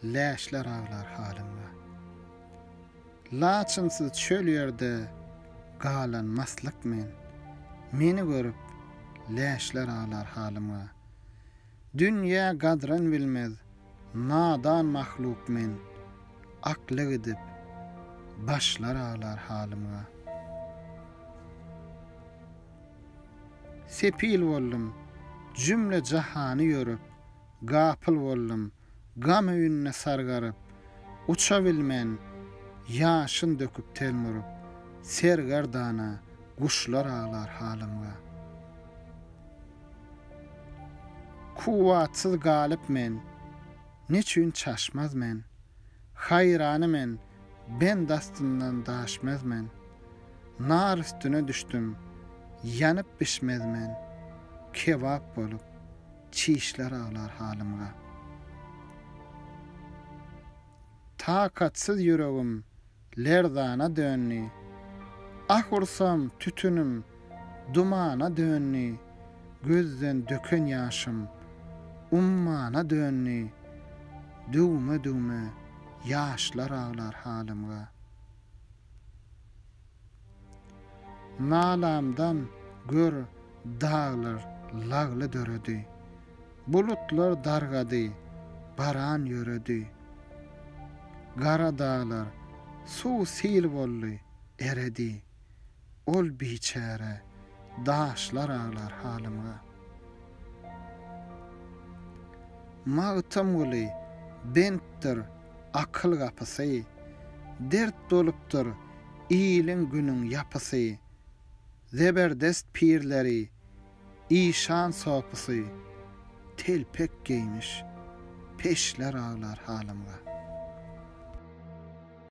Läşler aglar halyňda. Laçynsyz çöl ýerde galan maslyk men. Meni görüp, läşler aglar halyma. Dünýä gadryn bilmez, nadan mahluk men. Akly gidip, başlar aglar halyma. Sepil boldum, jümle jahany ýörüp, Gapyl boldum, gam öýünde sargaryp, Uça bilmen, ýaşyn döküp telmurup, Sergerdana, guşlar aglar halymga. Kuwwatsyz galyp men, neçün çaşmaz men, Haýrany men, bend astyndan daşmez men, Nar üstüne düşdüm, ýanyp bişmez men, Kebap bolup, çişler aglar halymga. Takatsyz ýüregim lerzana döndi, Ah ursam, tütünim Dumana döndi gözden döken ýaşym, Ummana döndi düwme-düwme ýaşlar aglar halymga. Nalamdan gör daglar lagly döredi, Bulutlar dargady baran ýöredi, Gara daglar suw-sil boldy eredi, Ol biçäre daşlar aglar halymga. Magtymguly bentdir akyl gapysy, Dert bolupdyr iliň günüň ýapysy, Zeberdest pirleri, işan sopusy, Telpek geýmiş peşler aglar halymga.